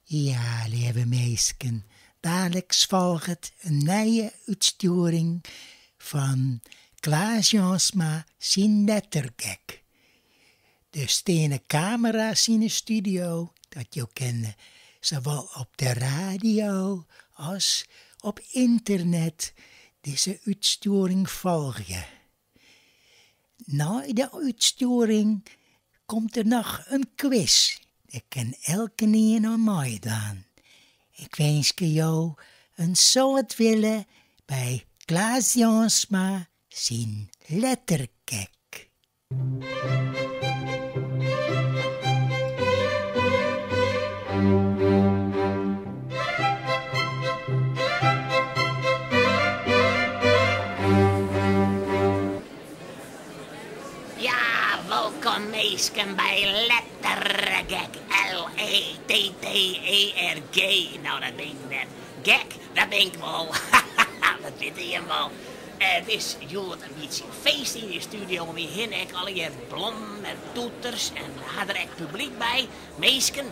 Ja, leave minsken, daliks folget in nije útstjoering fan Klaas Jansma syn lettergek. Der stean kamera's yn 'e studio, dat jo kinne sawol op de radio as op ynternet dizze útstjoering folgje. Nei de útstjoering komt der noch in quiz. Dêr kin elkenien oan meidwaan. Ik winskje jo in soad wille by Klaas Jansma syn Lettergek. Wolkom minsken by Lettergek L-E-T-T-E-R-G No dat bin ik net Gek, dat bin ik wol Dat witte jim wol It is hjoed in bytsje feest yn de studio om my hinne Ek allegear blommen en toeters en ha der ek publiek by Minsken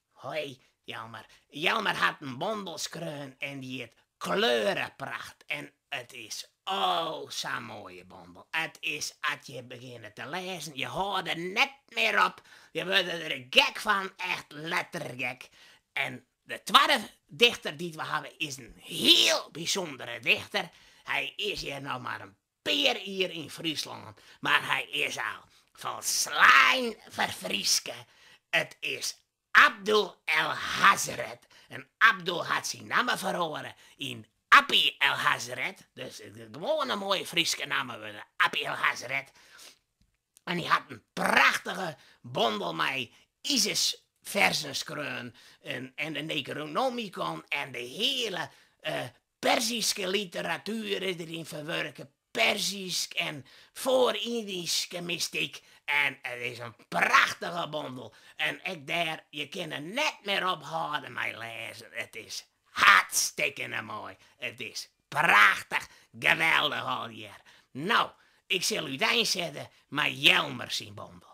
Hoi, Jelmer. Jelmer hat in bondel skreaun en dy hjit Kleurepracht en it is o sa'n moaie bondel. It is as je begjinne te lêzen, je hâlde der net mear op, je wurde der gek fan, echt lettergek. En de twadde dichter dy't we hawwe is in hiel bysûndere dichter. Hy is hjir noch mar in pear jier yn Fryslân, mar hy is al folslein ferfryske. It is Abdul El Hazred en Abdul hat syn namme feroare yn Appie El Hazred, dus it is gewoan in moaie Fryske namme wurden, Appie El Hazred, en hy hat in prachtige bondel mei Isis-ferzen skreaun en de Necronomicon en de hiele Perzyske literatuer is der yn ferwurke, Perzysk en Foar-Yndyske mystyk, en it is in prachtige bondel. En ek dêr, je kin der net mear ophâlde mei lêzen, it is hartstikkene moai. It is prachtich, geweldich allegear. No, ik sil úteinsitte mei Jelmer syn bondel.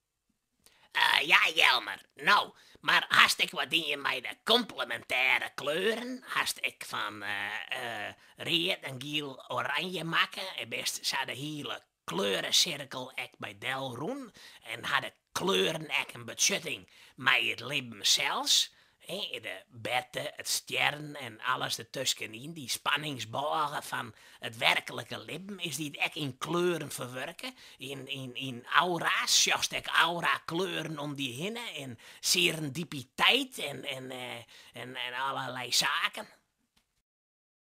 Eh, ja Jelmer, no, mar hast ek wat dien mei de komplemintêre kleuren, hast ek fan read en giel oranje makke en bist sa de hiele kleuresirkel ek by del rûn en ha de kleuren ek in betsjutting mei it libben sels? De berte, it stjerren en alles dertuskenyn, dy spanningsbôge fan it werklike libben, is dy ek yn kleuren ferwurke? Yn aura's, sjochst ek aurakleuren om dy hinne en serendipiteit en allerlei saken?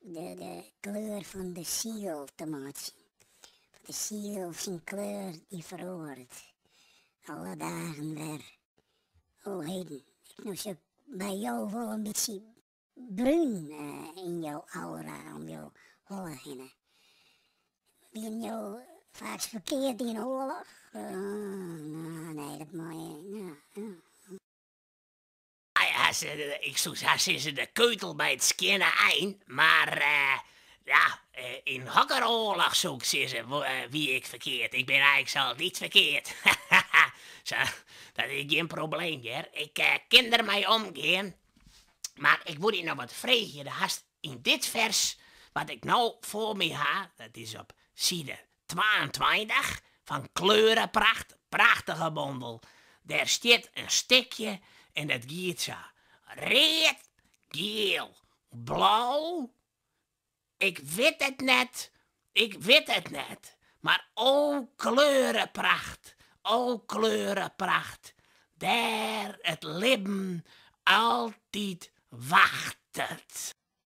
De kleur fan de siel te meitsjen. Want de siel syn kleur dy feroaret alle dagen wer. O heden, ik no sjoch by jo wol in bytsje brún yn jo aura om jo holle hinne. Wienen jo faaks ferkeard yn oarloch? Oeh, no, nee, dat mei. ik soe sa sizze de keutel by it skjinne ein, mar eh, ja, eh, yn hokker oarloch soe ik sizze eh, wie ik ferkeard. Ik bin eins altyd ferkeard. Sa, dat is gjin probleem hjir. Ik eh, kin der mei omgean. Mar ik woe dy noch wat freegje. Do hast yn dit vers, wat ik no foar my ha, dat is op side twaentweintich fan Kleurepracht, prachtige bondel. Der stiet in stikje en dat giet sa, read, giel, blau, ik wit it net, ik wit it net, mar o kleurepracht, o kleurepracht, dêr it libben altyd wachtet.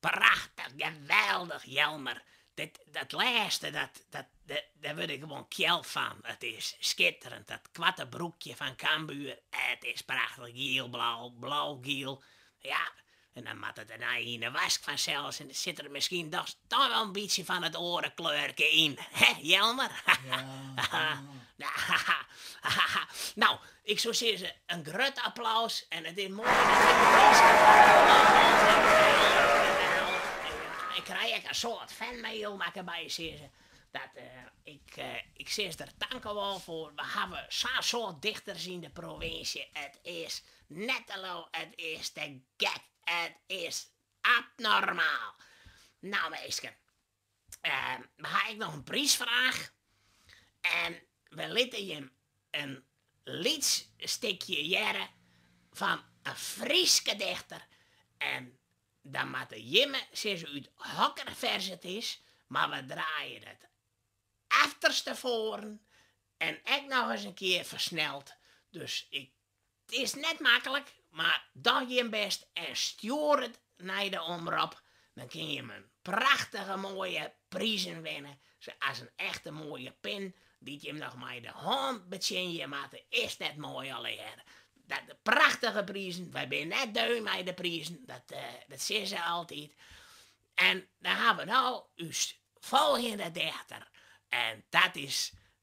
Prachtich, geweldich Jelmer. Dit dat lêste dat dat dêr wurd ik gewoan kjeld fan. It is skitterend dat koarte broekje fan Cambuur. It is prachtich gielblau, blaugiel. Ja, en dan moat it dernei yn de wask fansels en sit der miskien toch wol in bytsje fan it oare kleurke yn. Hè Jelmer? Ja, ja. No, Ik soe sizze, in grut applaus en it is moai. Ik krij ek in soad fanmail makke by sizze dat ik sizze der tankewol foar. We hawwe sa'n soad dichters yn de provinsje, it is net te lul, it is te gek, it is abnormaal. No minsken, Ehm, we ha ek noch in prysfraach. En we litte jim in lyts stikje hearre fan in Fryske dichter. En dan moatte jimme sizze út hokker fers it is, mar we draaien it efterstefoaren en ek noch ins in kear fersneld. Dus ik It is net maklik, mar doch jim bêst en stjoer it nei de omrop, dan kinne jim prachtige moaie prizen winne, sa as in echte moaie pin dy't jim noch mei de hân betsjinje moatte. Is dat net moai allegearre? Prachtige prizen, wy binne net deu mei de prizen, dat sizze se altyd. En dan hawwe we no ús folgjende dichter en dat is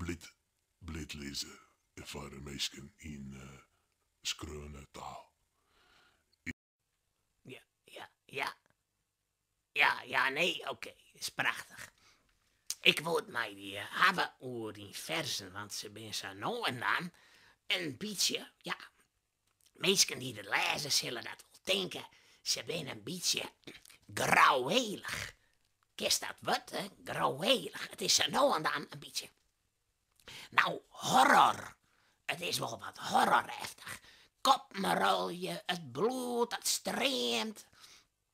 Bliid, bliid lizze foar minsken yn skreaune taal. Ja, ja, ja, ja, nee, okee, is prachtich. Ik wol it mei dy hawwe oer dyn ferzen, want se binne sa no en dan in bytsje Minsken dy't it lêze sille dat wol tinke, se binne in bytsje grouwelich. Kinst dat wurd, hè? Grouwelich. It is sa no en dan in bytsje. Nou, horror. It is wol wat horroreftig. Koppen rôlje, it bloed dat streamt.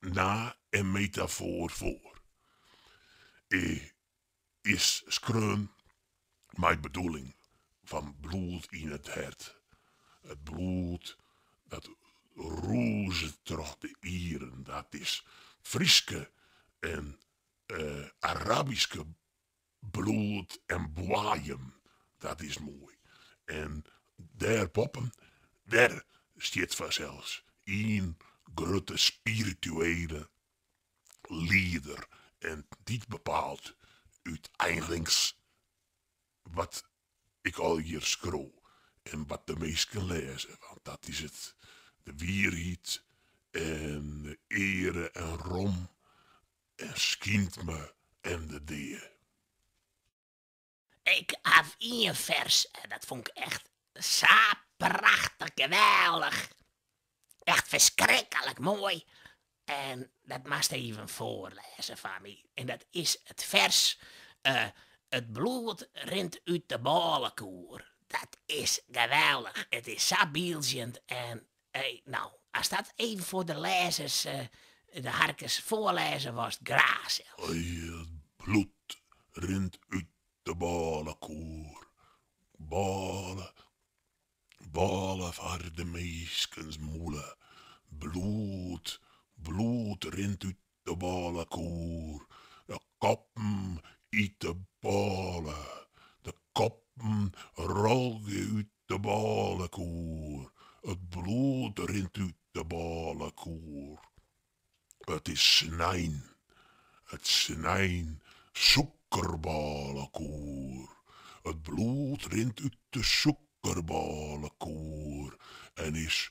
no in metafoar foar. It is skreaun mei bedoeling fan bloed yn it hert, it bloed dat rûzet troch de ieren, dat is it Fryske en Arabyske Bloed en boaiem, dat is moai. En dêr boppen, dêr stiet fansels ien grutte spirituele lieder en dy bepaalt úteinlings wat ik al hjir skriuw en wat de minsken lêze, want dat is it, de wierheid en de eare en rom en skynt me en de dea. Ik haw ien fers en dat fûn ik echt sa prachtich geweldich, echt ferskriklik moai en dat moatst even foarlêze foar my. En dat is it fers It bloed rint út de bôlekoer. Dat is geweldich, it is sa bieldzjend en No, ast dat even foar de lêzers, eh, de harkers, foarlêze wolst, graach sels. It bloed rint út de bôlekoer. Bôle, bôle foar de minskens mûle. Bloed, bloed rint út De bôlekoer. De koppen yn 'e bôle. De koppen rôlje út de bôlekoer. It bloed rint út de bôlekoer. It is snein. It snein sûkerbôlekoer. It bloed rint út de sûkerbôlekoer en is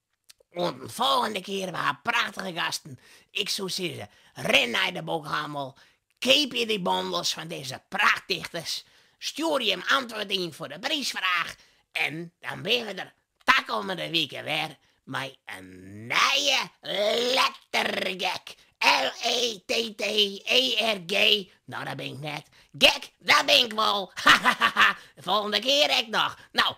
Oant in folgjende kear, we ha prachtige gasten. Ik soe sizze, rin nei de boekhannel, keapje dy bondels fan dizze prachtdichters, stjoer je antwurd yn foar de prysfraach en dan binne we der takommende wike wer mei in nije lettergek, L-E-T-T-E-R-G, no dat bin ik net, gek, dat bin ik wol, hahahaha, de folgjende kear ek noch. No,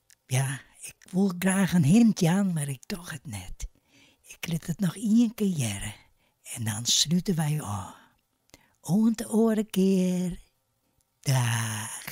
Ja, ik wol graach in hint jaan, mar ik doch it net. Ik lit it noch ien kear hearre en dan slute wy ôf. Oant de oare kear. Daach.